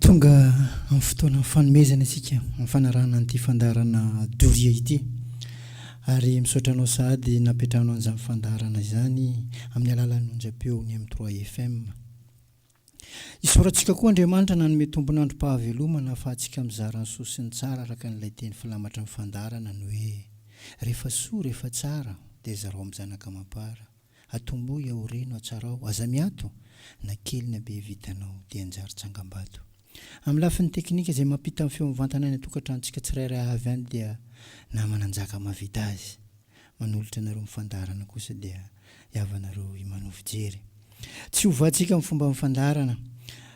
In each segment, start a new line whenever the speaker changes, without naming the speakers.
Tonga amin'ny fotoanan'ny fanomezana isika amin'ny fanarahana an'ity fandaharana doria ity. Ary misaotra anao sahady napetrahanao an'izany fandaharana izany amin'ny alalan'ny onjam-peo ny M3 FM. Isaorantsika koa Andriamanitra nanome tompon'androm-pahavelomana ahafahantsika mizara ny soa sy ny tsara araka an'ilay teny filamatry ny fandaharana ny hoe, Rehefa soa, rehefa tsara, dia zarao amin'ny zanaka amam-para. Atombohy aho reno hatsarao Aza miato na kely na be vitanao Dia hanjary tsangambato Amin'ny lafiny teknika izay mampita ny feo mivantana any an-tokantranontsika tsirairay avy any dia Naha Mananjaka mahavita azy Manolotra anareo amin'ny fandaharana kosa dia Hiavanareo i Mano fijery Tsy ho vatsika amin'ny fomba amin'ny fandaharana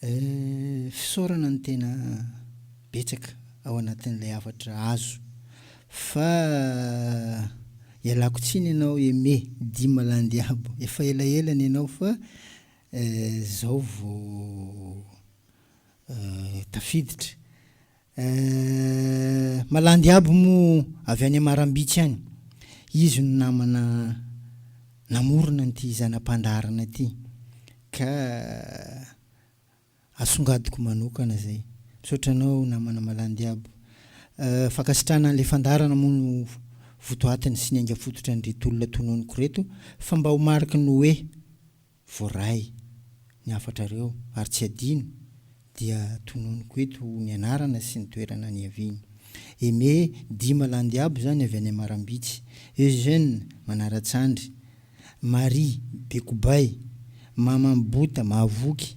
Fisaorana no tena betsaka ao anatin'ilay hafatra azo fa ialako tsiny ianao Aimé Dima Landiabo, efa elaela ny anao fa izao vao tafiditra. Eeh malandy aby moa avy any Amarambitsy any izy no namana namorona an'ity zana-pandaharana ity ka asongadiko manokana zay. Misaotra anao namana malandy aby. Fankasitrahana an'ilay fandaharana moa no votoatiny sy ny ainga-fototra an'ireto olona tononiko reto fa mba ho mariky ny hoe. Voaray ny hafatrareo ary tsy adino dia tononiko eto ny anarana sy ny toerana niaviany. Aimé Dima Landiabo izany avy any Amarambitsy, Eugène Manaratsandry, Marie Bekobay, Maman Bota Mahavoky,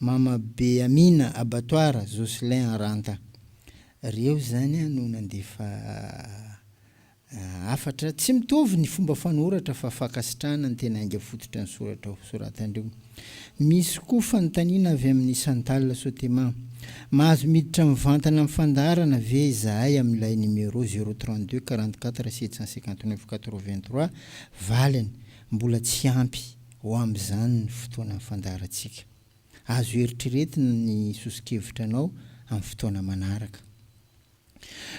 Mama be Amina Abattoir Jocelyn Aranta. Ry eo izany no nandefa hafatra, tsy mitovy ny fomba fanoratra fa fankasitrahana ny tena ainga fototra ny soratra ho soratan'ireo. Misy koa fanontaniana avy amin'i Chantal Sotema, Mahazo miditra mivantana amin'ny fandaharana ve izahay amin'ilay numéro zéro trente deux quarante quatre sept cent cinquante neuf quatre vingt trois? Valiny, Mbola tsy ampy. ho amin'izany ny fotoanan'ny fandaharantsika. Azo eritreretina ny soso-kevitra anao amin'ny fotoana manaraka.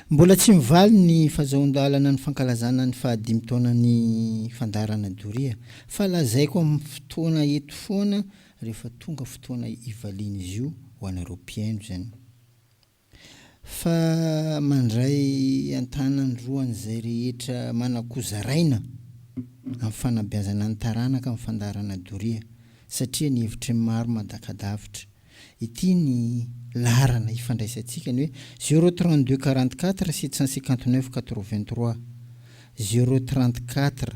Mbola tsy mivaly ny fazahoan-dalana ny fankalazana ny fahadimy taonan'ny fandaharana doria, fa lazaiko amin'ny fotoana eto foana rehefa tonga fotoana hivalian'izy io ho anareo mpihaino izany. Fa mandray an-tanany roa an'izay rehetra manakoa zaraina amin'ny fanabeazana ny taranaka ny fandaharana doria satria ny hevitry ny maro madakadavitra. Ity ny laharana hifandraisantsika, ny hoe zéro trente deux quarante quatre sept cent cinquante neuf quatre vingt trois, zéro trente quatre.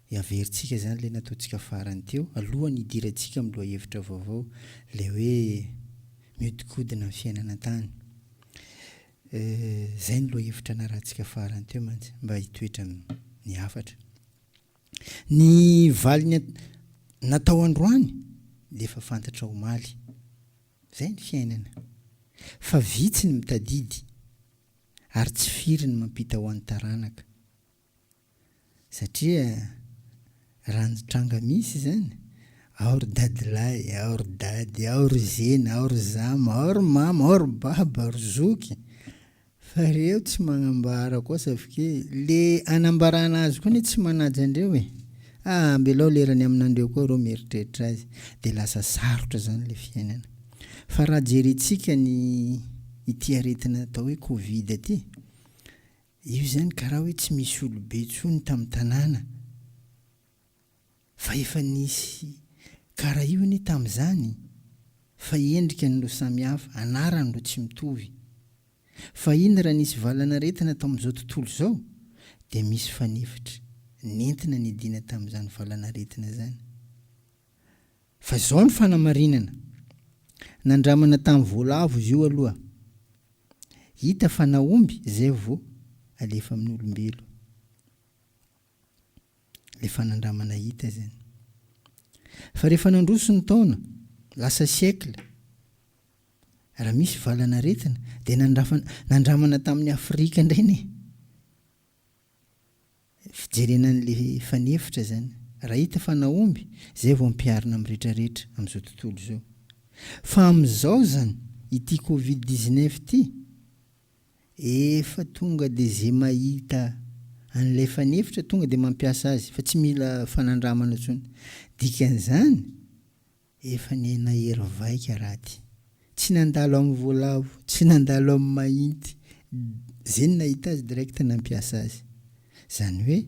Dia averintsika izany ilay nataontsika farany teo, alohan'ny hidirantsika amin'ny lohahevitra vaovao, ilay hoe mihodinkodina ny fiainana an-tany. Izay no lohahevitra narahantsika farany teo mantsy, mba hitoetra amin'ny hafatra. Ny valiny natao androany dia efa fantatra omaly. Izay ny fiainana. Fa vitsy ny mitadidy, ary tsy firy ny mampita ho an'ny taranaka. satria raha ny tranga misy zany ao ry dadilahy, ao ry dady, ao ry zeny, ao ry zama, ao ry mama, ao ry baba, ry zoky, fa reo tsy magnambara koa safikie le anambarana azy koa anie tsy manaja andreo e! ah ambelao lerany aminandreo koa reo mieritreritra azy de lasa sarotra zany le fiainana fa raha jerentsika ny ity aretina atao hoe covid ty Io izany karaha hoe tsy misy olobe intsony tamin'ny tanàna fa efa nisy karaha io anie tamin'izany fa endrikany no samihafa, anarany no tsy mitovy. Fahiny raha nisy valanaretina tao amin'izao tontolo izao dia misy fanefitra nentina niadiana tamin'izany valanaretina izany. Fa izao ny fanamarinana, nandramana tamin'ny voalavo izy io aloha, hita fa nahomby izay vao alefa amin'ny olombelo ilay fanandramana hita izany. Fa rehefa nandroso ny taona, lasa siècle, raha misy valan'aretina dia nandrafana, nandramana tamin'ny Afrika indray anie. Fijerena an'ilay efa nefitra izany. Raha hita fa nahomby, izay vao ampiharina amin'ny retraretra amin'izao tontolo izao. Fa amin'izao izany, ity covid dix-neuf ity, efa tonga dia izay mahita an'ilay efa nefitra tonga dia mampiasa azy fa tsy mila fanandramana intsony. Dikan'izany, Efa ny aina hery vaika raty. Tsy nandalo amin'ny voalavo, tsy nandalo amin'ny mahinty, ze nahita azy direct nampiasa azy. Zany hoe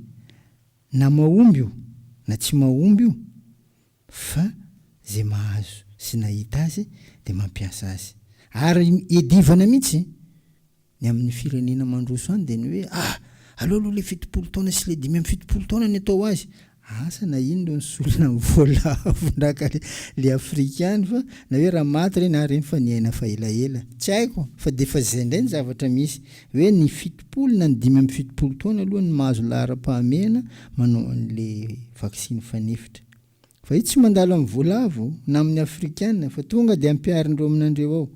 na mahomby io na tsy mahomby io fa ze mahazo sy nahita azy de mampiasa azy. Ary iadivana mihitsy Ny amin'ny firenena mandroso any dia ny hoe ah! aleo aloha ilay fitopolo taona sy ilay dimy amby fitopolo taona ny atao azy. Asa na iny no nisolona ny voalavondraka ilay afrikany fa na hoe raha maty ireny ah ireny fa niaina fa elaela. Tsy haiko fa dia efa izay indray ny zavatra misy. Hoe ny fitopolo na ny dimy amby fitopolo taona aloha ny mahazo laharam-pahamehana manao an'ilay vaksiny fanefitra. Fa io tsy mandalo amin'ny voalavo na amin'ny afrikana fa tonga dia ampiharin'ireo aminandreo ao.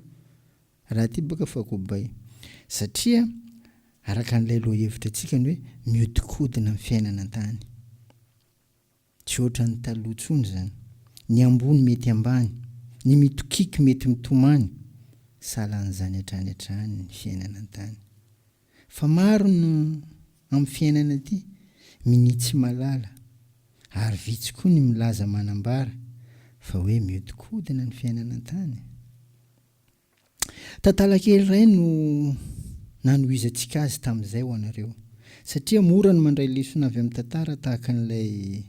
Raha ity boka fa kobay. Satria araka an'ilay lohahevitra antsika ny hoe miodikodina ny fiainana an-tany. Tsy ohatran'ny taloha intsony izany. Ny ambony mety ambany, ny mitokiky mety mitomany, sahala an'izany hatrany hatrany ny fiainana an-tany. Fa maro ny amin'ny fiainana ity minia tsy malala ary vitsy koa ny milaza manambara fa hoe miodikodina ny fiainana an-tany. Tantara kely iray no nanohizantsika azy tamin'izay ho anareo, satria mora ny mandray lesona avy amin'ny tantara tahaka an'ilay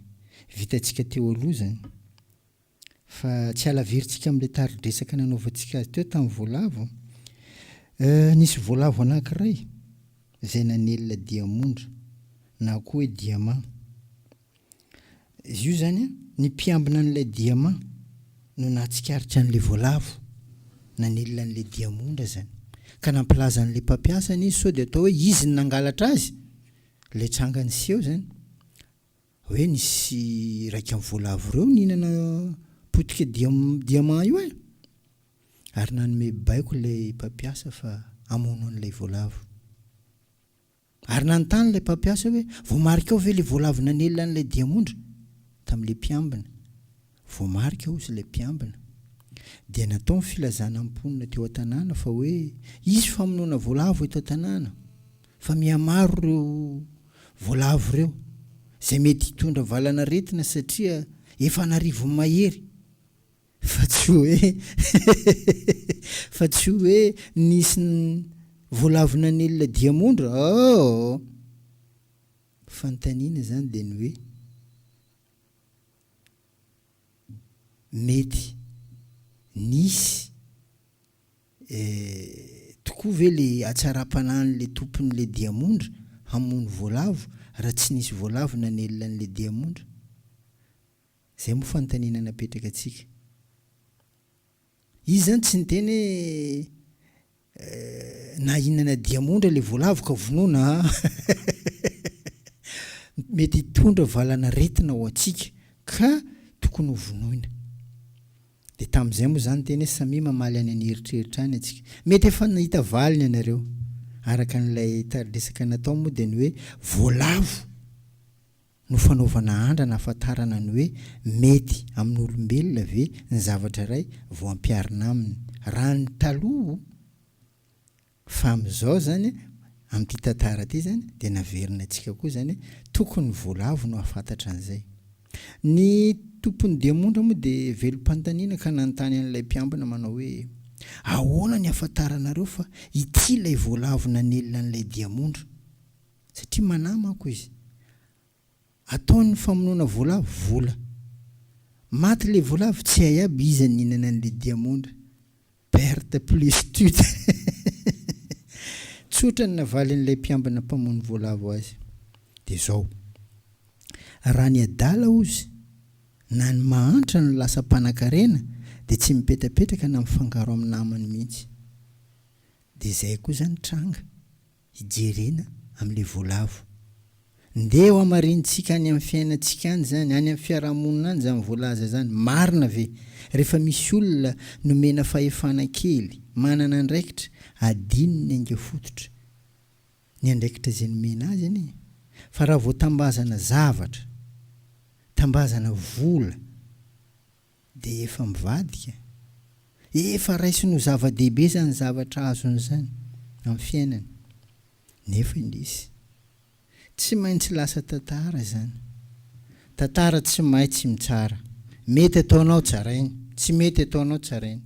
vitantsika teo aloha izany. Fa tsy halavirintsika amin'ilay tari-dresaka nanaovantsika azy teo tamin'ny voalavo. Nisy voalavo anankiray izay nanelina diamondra, na koa hoe diamà. Izy io izany an, ny mpiambina an'ilay diamà no nahatsikaritra an'ilay voalavo nanilina an'ilay diamondra izany, ka nampilaza an'ilay mpampiasany izy sao dia atao hoe izy no nangalatra azy, ilay tranga niseho izany, hoe nisy iraika amin'ny voalavo ireo nihinana potika diamà io e! ary nanome baiko ilay mpampiasa fa hamono an'ilay voalavo. Ary nanontany ilay mpampiasa hoe, Voamarika ao ve ilay voalavo nanelina an'ilay diamondra? tamin'ilay mpiambina. Voamarika ao, hoy ilay mpiambina. Dia natao ny filazana amin'ny mponina teo an-tanàna fa hoe, Hisy famonoana voalavo eto an-tanàna, fa mihamaro ireo voalavo ireo, izay mety hitondra valan'aretina satria efa an'arivony mahery. Fa tsy hoe fa tsy hoe nisy voalavinan'ilay diamondra aoo! Fanontaniana izany dia ny hoe, mety nisy tokoa ve ilay hatsaram-panahin'ilay tompon'ilay diamondra hamono voalavo raha tsy nisy voalavina nialan'ilay diamondra? Izay moa fanontaniana napetraka antsika. Izy izany tsy niteny hoe eh, na inona na diamondra ilay voalavo ka vonoina a! Mety hitondra valanaretina ho antsika ka tokony ho vonoina. Dia tamin'izay moa izany niteny hoe samia mamaly any an'eritreritra any antsika. Mety efa nahita valiny ianareo. Araka an'ilay tariresaka natao moa dia ny hoe voalavo. no fanaovana andrana ahafantarana ny hoe mety amin'olombelona ve ny zavatra iray vao ampiharina aminy. Raha ny taloha, fa amin'izao izany, amin'ity tantara ity izany, dia naverina antsika koa izany hoe tokony ny voalavo no hahafantatra an'izay. Ny tompon'ny demondra moa dia velom-panontaniana ka nanontany an'ilay mpiambina manao hoe, Ahoana ny ahafantaranareo fa ity ilay voalavo nanelina an'ilay diamondra? Satria manahy manko izy. Ataony famonoana voalavo vola. Maty le voalavo tsy hay aby iza nihinana anle diamondra. Perte plus tut. Tsotra ny navalin'ilay mpiambina mpamono voalavo azy. Dia zao. Raha ny adala ozy na ny mahantra no lasa mpanakarena dia tsy mipetrapetraka na mifangaro amin'ny namany mihitsy. Dia zay koa zany tranga. hijerena amin'ilay voalavo. Ndeha hohamarinintsika any amin'ny fiainantsika any izany, any amin'ny fiarahamonina any izany voalaza izany. Marina ve? Rehefa misy olona nomena fahefana kely, manana andraikitra, adinony hainga fototra ny andraikitra izay nomena azy anie. Fa raha vao tambazana zavatra, tambazana vola, Dia efa mivadika? Efa raisiny ho zava-dehibe izany zavatra azony izany amin'ny fiainany. Nefa indrisy, tsy maintsy lasa tantara izany. Tantara tsy mahay tsy mitsara. Mety ataonao tsarainy, tsy mety ataonao tsarainy.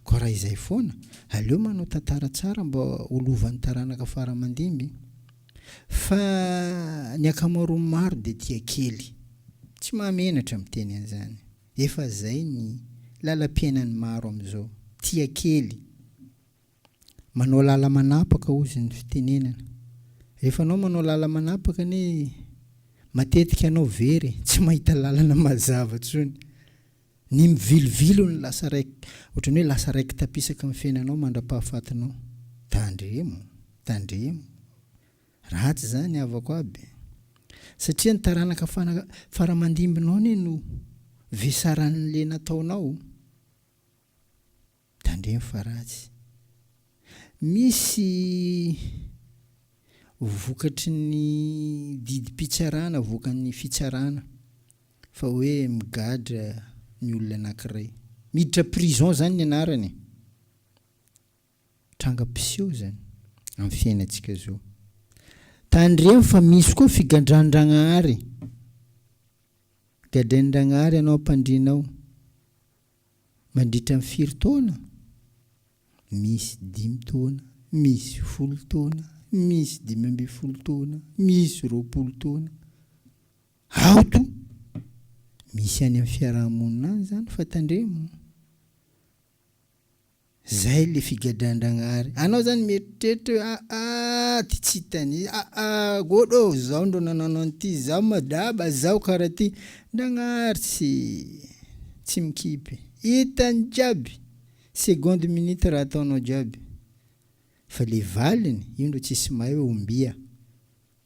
Koa raha izay foana, aleo manao tantara tsara mba ho lovan'ny taranaka fara-mandimby. Fa ny ankamaroan'ny maro dia tia kely. Tsy mahamenatra miteny an'izany. Efa izay ny lalam-piainan'ny maro amin'izao. Tia kely. Manao lala-manapaka hozy ny fitenenana. Rehefa anao manao lala-manapaka anie matetika anao very e, tsy mahita lalana mazava intsony. Ny mivilivilo ny lasa raik ohatran'ny hoe lasa raiki-tapisaka amin'ny fiainanao mandra-pahafatinao. Tandremo, tandremo. Ratsy izany havako aby. Satria ny taranaka fara fara aman-dimbinao anie no vesaran'le nataonao. Tandremo fa ratsy. Misy vokatry ny didim-pitsarana avoakan'ny fitsarana fa hoe migadra ny olona anankiray. Miditra prison zany ny anarany e. Tranga mpiseho zany amin'ny fiainantsika zao. Tandremo fa misy koa figandran-dragnahary. Gadrain'ny Ragnahary anao ampandrianao. Mandritra ny firy taona? Misy dimy taona, misy folo taona, misy dimy ambin'ny folo taona, misy roapolo taona. Aoto! Misy any amin'ny fiaraha-monina any izany fa tandremo. Zay le figadrandragnahary anao zany mieritreritra hoe aah ty tsy hitany aah god ô zaho ndro nanano an'ity zaho madaba zaho karaha ty Ndragnahary tsy tsy mikipy hitany jiaby seconde minute raha ataonao jiaby fa le valiny io ndro tsisy mahay hoe ombia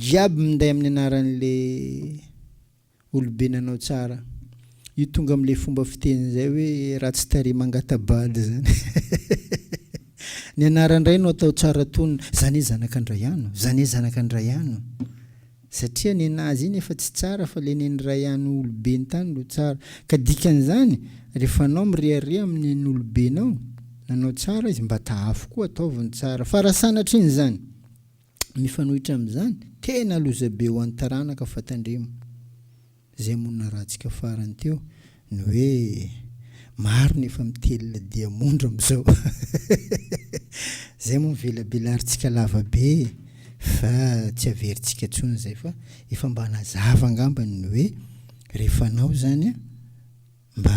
Jiaby minday amin'ny anaran'le olobe nanao tsara. Io tonga amin'le fomba fiteny izay hoe ratsy tarehy mangatabady zany. Ny anaran-dray no atao tsara tonona, zany hoe zanak'Andraiano, zany hoe zanak'Andraiano. Satria nenazy iny efa tsy tsara fa le nen'Raiano olobe nitany no tsara. Ka dikan'izany, rehefa anao mirehareha amin'ny nen'olobenao nanao tsara izy mba tahafo koa ataovy ny tsara. Fa raha sanatrin'izany. Mifanohitra amin'izany, tena lozabe ho an'ny taranaka fa tandremo izay monina ratsika farany teo ny hoe maro ny efa mitelina diamondra amin'izao izay moa mivelabelarintsika lava be e! fa tsy averintsika intsony izay fa efa mba nazava angambany ny hoe rehefa anao izany mba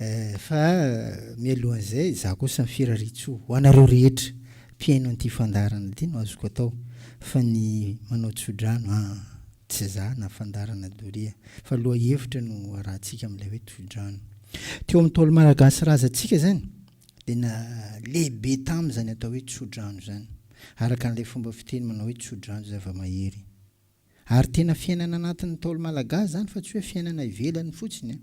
Eh, fa mialohan'izay, izaho kosa mifirarin-tsoa ho anareo rehetra mpihaino an'ity fandaharana ity no azoko atao, fa ny manao tsodrano, ah, tsy izaho na fandaharana doria, fa lohahevitra no arahantsika amin'ilay hoe tsodrano. Teo amin'ny Ntaolo Malagasy razantsika izany, dia na lehibe tamin' izany atao hoe tsodrano izany, araka an'ilay fomba fiteny manao hoe tsodrano zava-mahery. Ary tena fiainana anatin'ny Ntaolo Malagasy izany fa tsy hoe fiainana ivelany fotsiny an!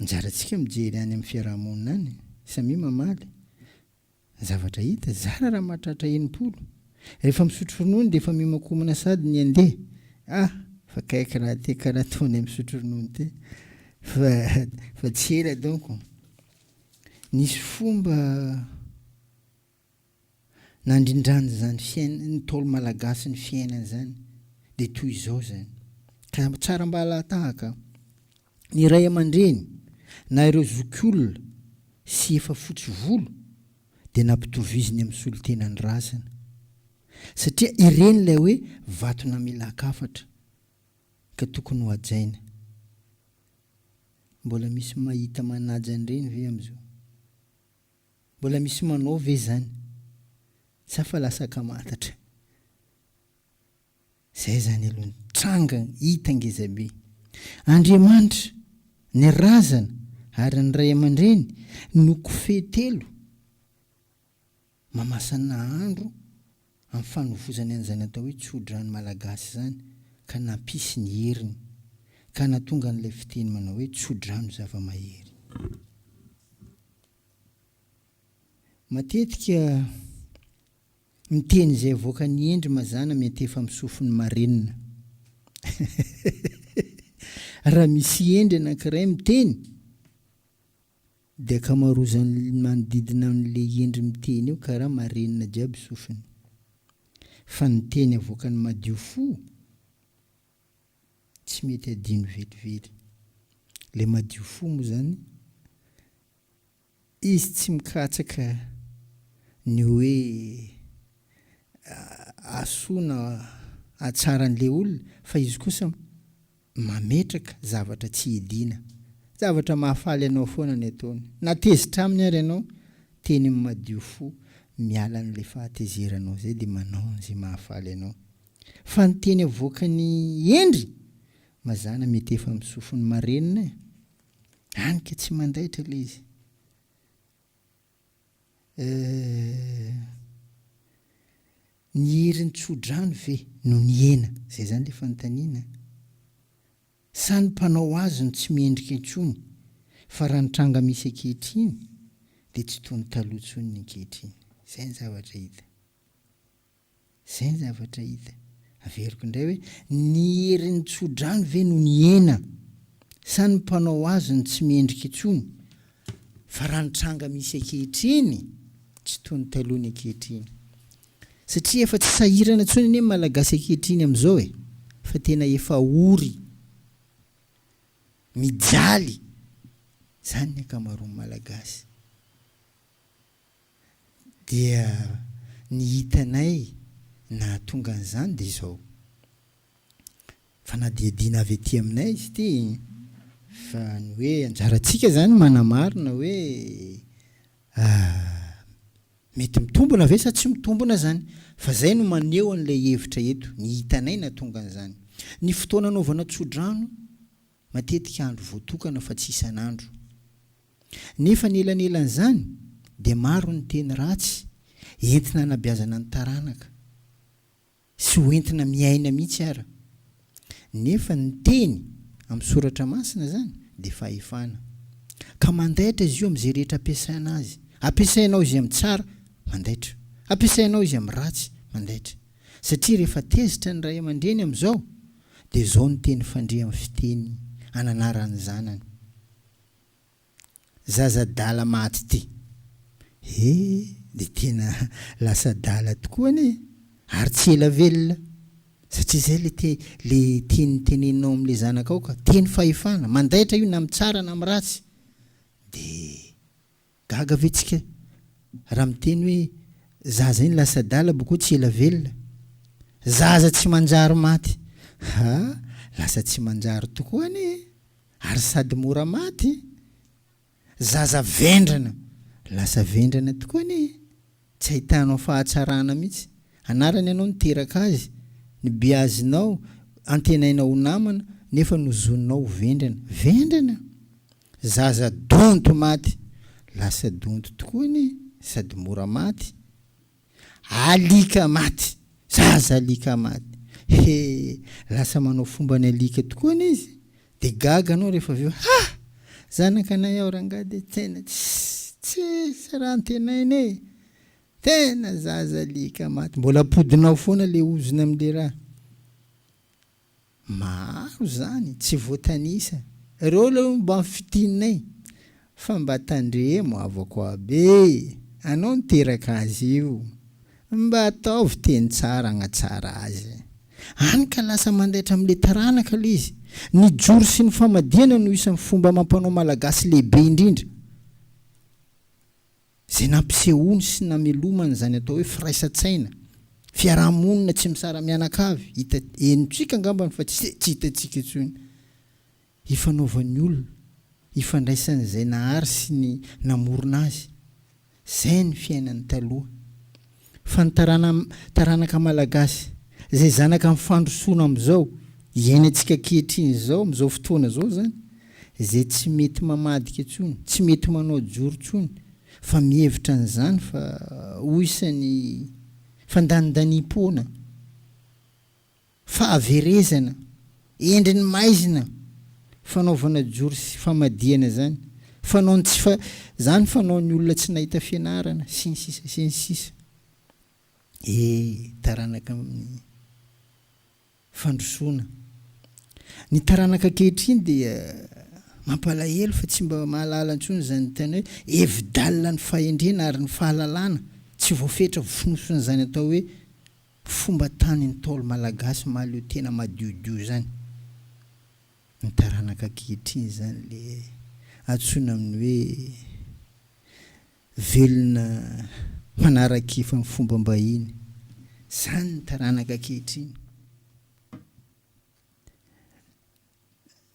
Anjarantsika mijery any amin'ny fiaraha-monina any, samia mamaly ny zavatra hita, zara raha mahatratra enimpolo, rehefa misotro ronono dia efa mihomankomana sady ny andeha, ah! fa kaiky raha te karaha ataonay misotro ronono te, fa fa tsy ela donko nisy fomba. Nandrindrany zany fiainany ntaolo malagasy ny fiainany zany de toy izao zany ka tsara mba alahatahaka ny ray amandreny na ireo zokiolona sy efa fotsy volo de nampitoviziny amin'ny solontenan'ny razana satria ireny ilay hoe vato namilakafatra ka tokony ho ajaina mbola misy mahita manaja an'ireny ve amizao? Mbola misy manao ve zany? Sa fa lasa kamantatra? Zay zany aloha ny tranga hita ngeza be. Andriamanitra, ny razana ary ny ray aman-dreny no kofehy telo mamasana andro amin'ny fanovozany an'izay natao hoe tsodrano malagasy izany ka nampisy ny heriny ka nahatonga an'ilay fiteny manao hoe tsodrano zava-mahery. Matetika ny teny izay avoakan'i Hendry mazàna miantefa amin'ny sofin'ny marenina. Raha misy Hendry anankiray miteny, De akamarozany manodidina an le hendry miteny eo karaha marenina jiaby sofiny. Fa ny teny avoakany madio fo tsy mety adino velively. Le madio fo moa zany izy tsy mikatsaka ny hoe asoa na atsara anle olona fa izy kosa Mametraka zavatra tsy hidiana. Zavatra mahafaly anao foana ny ataony. Na tezitra aminy ary ianao, teny amin'ny madio fo, miala an'ilay fahatezeranao izay dia manao an'izay mahafaly anao. Fa ny teny avoakan'i Hendry mazàna mety efa amin'ny sofiny marenina e! Hany ka tsy mandaitra ilay izy. Euh. Ny herin'ny tsodrano ve no nihena? Izay izany ilay fanontaniana an! Sa ny mpanao azy no tsy mendrika intsony fa raha ny tranga misy ankehitriny dia tsy toy ny taloha intsony ny ankehitriny? Izay ny zavatra hita. Izay ny zavatra hita. Averiko indray hoe, ny herin'ny tsodrano ve no nihena, sa ny mpanao azy no tsy mendrika intsony? Fa raha ny tranga misy ankehitriny, tsy toy ny taloha ny ankehitriny. Satria efa tsy sahirana intsony anie ny Malagasy ankehitriny amin'izao e! Fa tena efa ory, mijaly izany ny ankamaroan'ny Malagasy. Dia ny hitanay nahatonga an'izany dia izao, fanadihadiana avy aty aminay izy ity, fa ny hoe anjarantsika izany manamarina hoe mety mitombina ve sa tsy mitombina izany, fa izay no maneho an'ilay hevitra eto, ny hitanay nahatonga an'izany. Ny fotoana anaovana tsodrano, Matetika andro voatokana fa tsy isan'andro. Nefa ny elanelan'izany dia maro ny teny ratsy entina anabeazana ny taranaka sy ho entina miaina mihitsy ara. Nefa ny teny amin'ny soratra masina izany dia fahefana. Ka mandaitra izy io amin'izay rehetra ampiasaina azy. Ampiasainao izy amin'ny tsara, mandaitra. Ampiasainao izy amin'ny ratsy, mandaitra. Satria rehefa tezitra ny ray aman-dreny amin'izao, dia izao ny teny fandria amin'ny fiteny ananaran'ny zanany, Zaza adala maty ity. He, dia tena lasa adala tokoa anie e! Ary tsy ela velona, satria izay ilay te, ilay teny teneninao amin'ilay zanakao ka, teny fahefana, mandaitra io na amin'ny tsara na amin'ny ratsy. Dia. Gaga ve tsika raha miteny hoe zaza iny lasa adala boko tsy ela velona? Zaza tsy manjary maty! Ha! Lasa tsy manjary tokoa anie e! Ary sady mora maty! Zaza vendrana! Lasa vendrana tokoa anie e! Tsy ahitanao fahatsarana mihitsy! Anarany ianao niteraka azy, nibeazinao, antenainao ho namana, nefa nozoninao ho vendrana! Vendrana! Zaza donto maty lasa donto tokoa anie sady mora maty. Alika maty, zaza alika maty. He! lasa manao fomba ny alika tokoa anie izy. Dia gaga anao rehefa avy eo, ha! zanakanay aho rangahy dia tena tsisy raha antenaina e! tena zaza alika maty. Mbola ampodinao foana ilay ozona amin'ilay raha. Maro izany tsy voatanisa. Reo leo mba fitinay fa mba tandremo havako be anao niteraka azy io mba ataovy teny tsara agnatsara azy any ka lasa mandaitra amle taranaka aloha izy ny joro sy ny famadihana no isany fomba amampanao malagasy lehibe indrindra Izay nampisehoany sy namelomany izany atao hoe firaisan-tsaina, fiaraha-monina tsy misara-mianakavy, hita henontsika angambany fa tsy dia tsy hitantsika intsony, hifanaovan'ny olona, hifandraisan'izay nahary sy ny namorona azy. Izay ny fiainany taloha. Fa ny tarana taranaka malagasy izay zanaka ny fandrosoana amin'izao iainantsika ankehitriny izao amin'izao fotoana izao izany izay tsy mety mamadika intsony, tsy mety manao joro intsony fa mihevitra an'izany fa ho isan'ny fandanindaniam-poana. Fahaverezana, endriny maizina, fanaovana jory sy famadihana zany, fanaony tsy fa zany fanaony olona tsy nahita fianarana sy ny sisa sy ny sisa e taranaka amin'ny fandrosoana ny taranaka ankehitriny dia mampalahelo fa tsy mba mahalala ntsony izany tena hoe hevi-dalina ny fahendrena ary ny fahalalana tsy voafetra vonosin'izany atao hoe Fomba tany ntaolo malagasy mahaleo tena madiodio zany ny taranaka ankehitriny zany le atsoina aminy hoe velona manaraka efa ny fomba mbahiny zany ny taranaka ankehitriny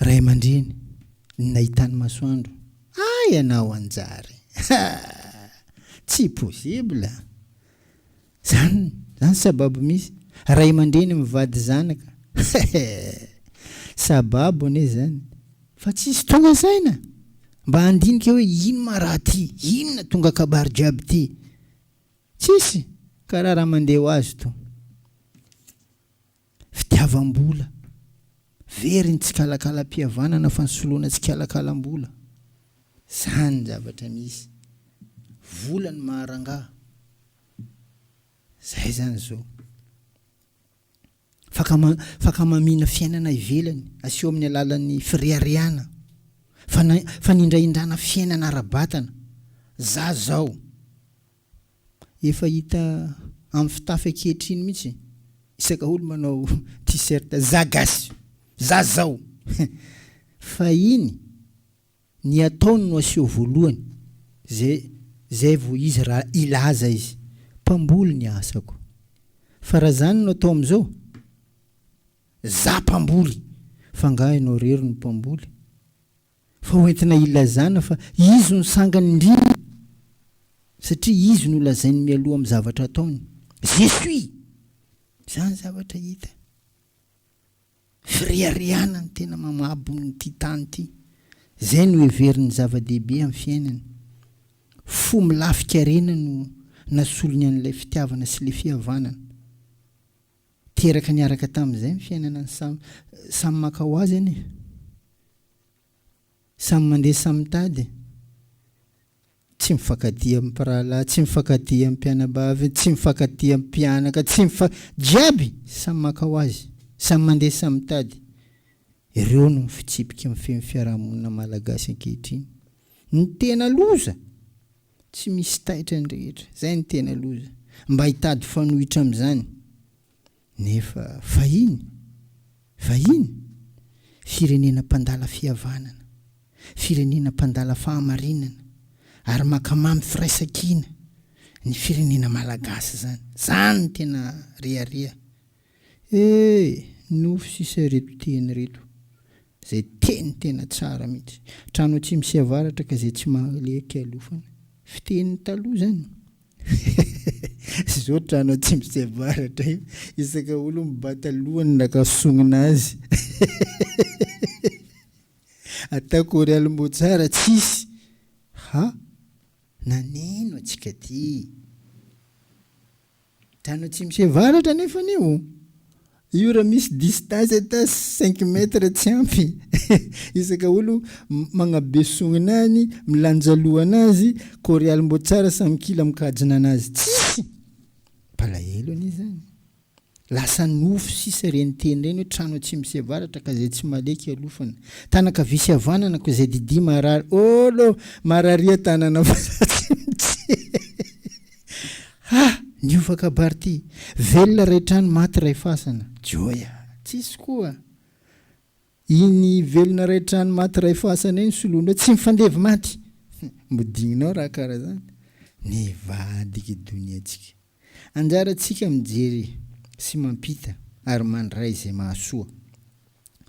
Ray aman-dreny, ny nahitany masoandro, ah ianao hanjary, ah! tsy possible! Zany, zany sababo misy, ray aman-dreny mivady zanaka, hehe! sababo anie zany, fa tsisy tonga saina mba handinika hoe ino ma raha ty, inona tonga kabary jiaby ty, tsisy, karaha raha mandeha ho azy to. Fitiavam-bola. Very ny tsikalakalam-pihavanana fa ny soloana tsikalakalam-bola. Izany ny zavatra misy. Vola no maha-rangahy. Izay izany izao. Fakama, fakamamiana fiainana ivelany, aseho amin'ny alalan'ny fireharehana. Fana, fanindrahindrana fiainana ara-batana. Za zao. Efa hita amin'ny fitafy ankehitriny mihitsy isaka olo manao t-shirt za gasy za zao fa iny ny ataony no aseho voalohany zay zay vo izy ra ilaza izy mpamboly ny asako fa ra zany no atao amizao za mpamboly fa nga enao rery no mpamboly Fa ho entina ilazana fa izy no sangany indrindra satria izy no lazainy mialoha amin'ny zavatra ataony. Je suis! Izany zavatra hita. Fireharehana ny tena mamabo ity tany ity. Izay no heveriny zava-dehibe amin'ny fiainany. Fo milafikarena no nasolony an'ilay fitiavana sy ilay fihavanana. Teraka niaraka tamin'izay ny fiainana ny samy. Samy maka ho azy anie. Samy mandeha samy mitady. Tsy mifankatia amin'ny mpirahalahy, tsy mifankatia amin'ny mpianabavy, tsy mifankatia amin'ny mpianaka, tsy mifa... Jiaby samy maka ho azy, samy mandeha samy mitady. Ireo no fitsipiky mifehy ny fiarahamonina malagasy ankehitriny. Ny tena loza! Tsy misy taitra ny rehetra. Izay no tena loza. Mba hitady fanohitra amin'izany. Nefa fahiny, vahiny, firenena mpandala fihavanana, firenena mpandala fahamarinana, ary maka mamy firaisankina ny firenena malagasy izany. Izany no tena rehareha. Ee, nofy sy izay reto teny reto. Izay teny tena tsara mihitsy. Trano atsimo sy avaratra ka izay tsy mahalé kialofana. Fiteny taloha izany. Izao trano atsimo sy avaratra io isaka olo mibata lohany naka sonina azy. Atao chorale motsara tsisy ha naneno atsika ty. Tany atsimo sy avaratra anefany io. Io raha misy distance ata cinq mètres tsy ampy isaka olo magnabe sognina any milanja lohana azy coreal mbo tsara samy kila mikajina anazy tsisy palahelo anie zany lasa nofy sisa reny teny reny hoe trano atsimo sy avaratra ka zay tsy maleky alofana tana kavia sy avanana ko zay didia marary olo mararia tanana fa za tsy mijery. Ah! Niova kabary ty! Velona ray trano, maty ray fasana. Joya! Tsisy koa! Iny velona ray trano, maty ray fasana iny soloinao, tsy mifandevy maty! Modignao raha kara zany! Nivadiky i doniantsika. Anjarantsika mijery sy mampita ary mandray izay mahasoa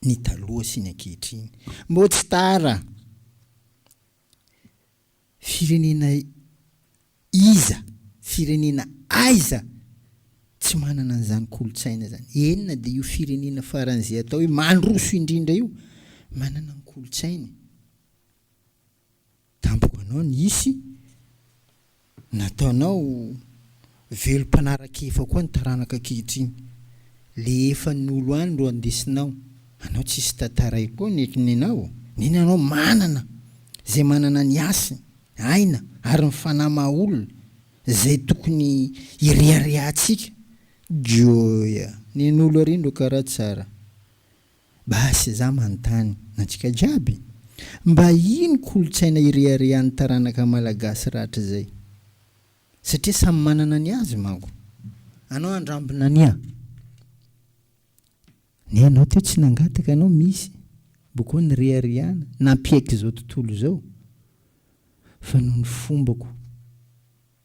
ny taloha sy ny ankehitriny. Mbô tsy tara! Firenena iza, firenena aiza tsy manana an'izany kolontsaina izany? Eny na dia io firenena faran'izay atao hoe mandroso indrindra io, manana ny kolontsainy. Tampoka anao ny hisy. Nataonao velom-panaraka-efa koa ny taranaka ankehitriny. Le efa nolo any ro andesinao. Anao tsisy tantaray koa nety nenao. Neny anao manana zay manana ny hasiny, aina ary ny fanahy maha olona zay tokony hireharehantsika. Gioia. Nenolo ary ndro kara tsara. Basy za manontany antsika jiaby, mba ino kolotsaina ireharehan'ny taranaka malagasy rahatrizay? Satria samy manana ny azy manko. Anao andrambina ania. Ny anao teo tsy nangataka anao misy mba koa nireharehana nampiaiky zao tontolo zao fa noho ny fombako.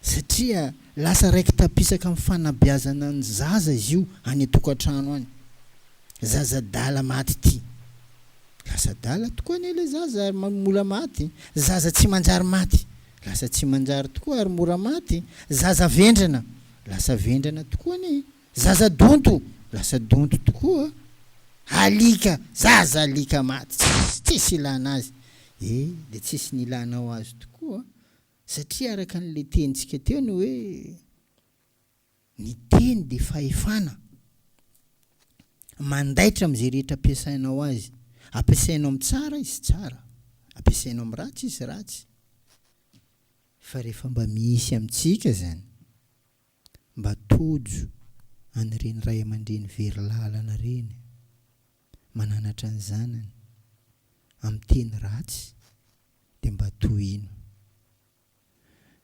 satria lasa raiki-tapisaka amin'ny fanabeazana ny zaza izy io any an-tokantrano any, zaza adala maty ity, lasa adala tokoa anie ilay zaza ary mora maty, zaza tsy manjary maty, lasa tsy manjary tokoa ary mora maty, zaza vendrana, lasa vendrana tokoa anie, zaza donto, lasa donto tokoa, alika, zaza alika maty, tsisy, tsisy ilana azy, eh, dia tsisy ny ilànao azy tokoa. Satria araka ny letentsika teo ny hoe ny teny dia fahefana mandaitra amin'izay rehetra ampiasainao azy. Ampiasainao amin'ny tsara izy tsara, ampiasainao amin'ny ratsy izy ratsy. Fa rehefa mba misy amintsika izany, mba tojo an'ireny ray aman-dreny very lalana ireny. mananatra ny zanany amin'ny teny ratsy dia mba tohino.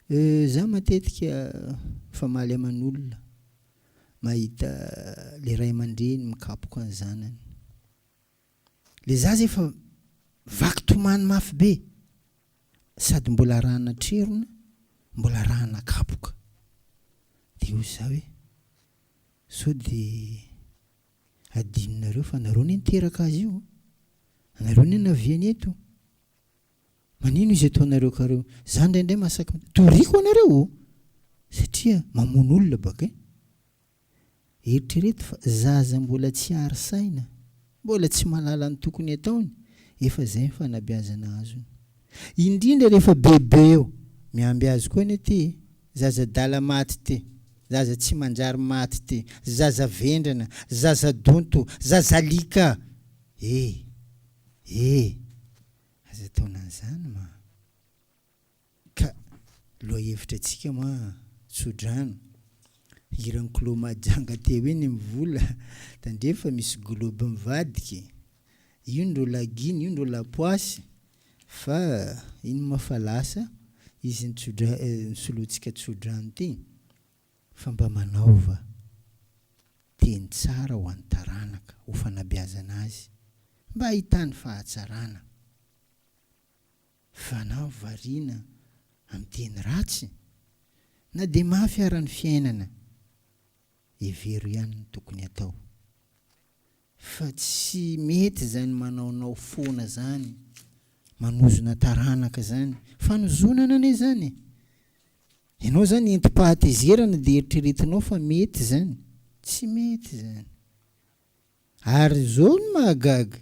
Euh za matetika famaly aman'olona mahita le ray aman-dreny mikapoka ny zanany. Le zaza efa vaky tomany mafy be sady mbola arahana trerona mbola arahana kapoka. Dia hoy za hoe sao dia Adinonareo fa nareo ne niteraka azy io a! Nareo ne naviany eto! Manino izy eto anareo ka reo? Za indraindray mahasaky miteny, toriko anareo o! Satria mamono olona baka e! Eritrereto fa zaza mbola tsy ary saina, mbola tsy mahalala ny tokony ataony, efa zay ny fanabeazana azony. Indrindra rehefa bebe eo! Miamby azy koa anie ty e! Zaza adala maty ty, zaza tsy manjary maty ty, zaza vendrana, zaza donto, zaza alika! Eh! Eh! Aza ataona an'izany ma! Ka lohahevitra antsika ma, tsodrano. Hiran'i Kolo Mahajanga teo iny ny vola, tandremo fa misy globe mivadika. Io ndro lagiany, io ndro lapoasy. Fa ino ma fa lasa izy nitsodra nisoloantsika tsodrano ty? Fa mba manaova teny tsara ho an'ny taranaka ho fanabeazana azy mba hahitany fahatsarana fa na variana amin'ny teny ratsy na dia mafy ara ny fiainana hevero ihany ny tokony atao Fa tsy mety zany manaonao foana zany manozona taranaka zany fanozonana anie zany e! Ianao zany entim-pahatezerana dia eritreretinao fa mety zany? Tsy mety zany! Ary zao ny mahagaga!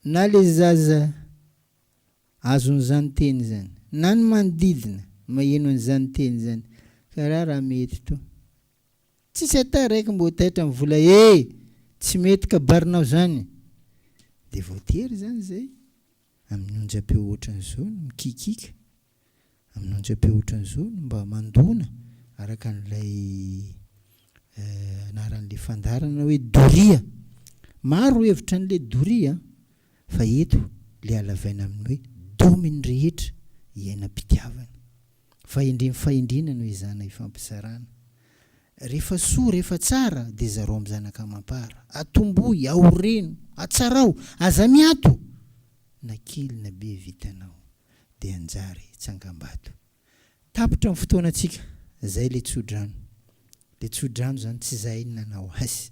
Na ilay zaza azon'izany teny izany, na ny manodidina maheno an'izany teny izany, ka ra raha mety to. Tsisy ata raiky mbo taitra am vola e! Tsy mety kabarinao zany! Dia voatery izany izay amin'ny onjam-peo ohatran'izao no mikikika. amin'antsy be ohatran'izao no mba mandona araka an'ilay anaran'ilay fandaharana hoe doria. Maro hevitra an'ilay doria fa eto ilay halavaina amin'ny hoe domin'ny rehetra iainam-pitiavana. Fahendren'ny fahendrena no ezahana ifampizarana. Rehefa soa, rehefa tsara dia zarao amin'ny zanaka amam-para. Atombohy, aoreno, atsarao, aza miato na kely na be vitanao. dia hanjary tsangambato. Tapitra ny fotoanantsika, izay ilay tsodrano. Ilay tsodrano izany tsy izahay no nanao azy,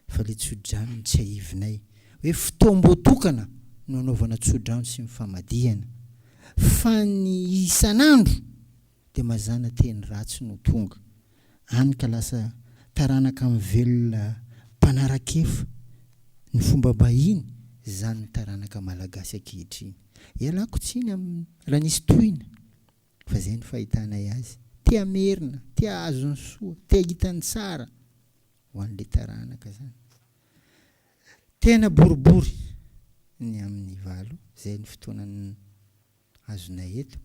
fa ilay tsodrano no tsiahivinay hoe fotoam-boatokana no hanaovana tsodrano sy ny famadihana, fa ny isan'andro dia mazàna teny ratsy no tonga any ka lasa taranaka mivelona mpanara-kefa ny fombam-bahiny izany ny taranaka malagasy ankehitriny. Ialako tsiny amin'ny raha nisy tohina fa izay no fahitanay azy. Te hamerina, te hahazo ny soa, te hahita ny tsara ho an'ilay taranaka izany. Tena boribory ny amin'ny valo izay no fotoanan'ny. azonay eto.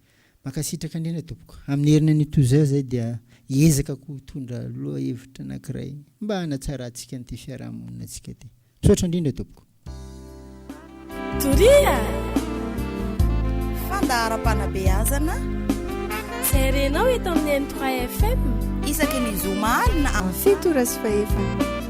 Mankasitraka indrindra tompoko. Amin'ny heriny anio toa izao izay dia hiezaka koa hitondra lohahevitra anankiray mba hanatsarantsika an'ity fiarahamonina antsika ity. Misaotra indrindra tompoko. Toria!
Fandaharam-panabeazana
izay renao eto amin'ny M3 FM. Isaky ny zoma
alina amin'ny fito ora sy fahefany.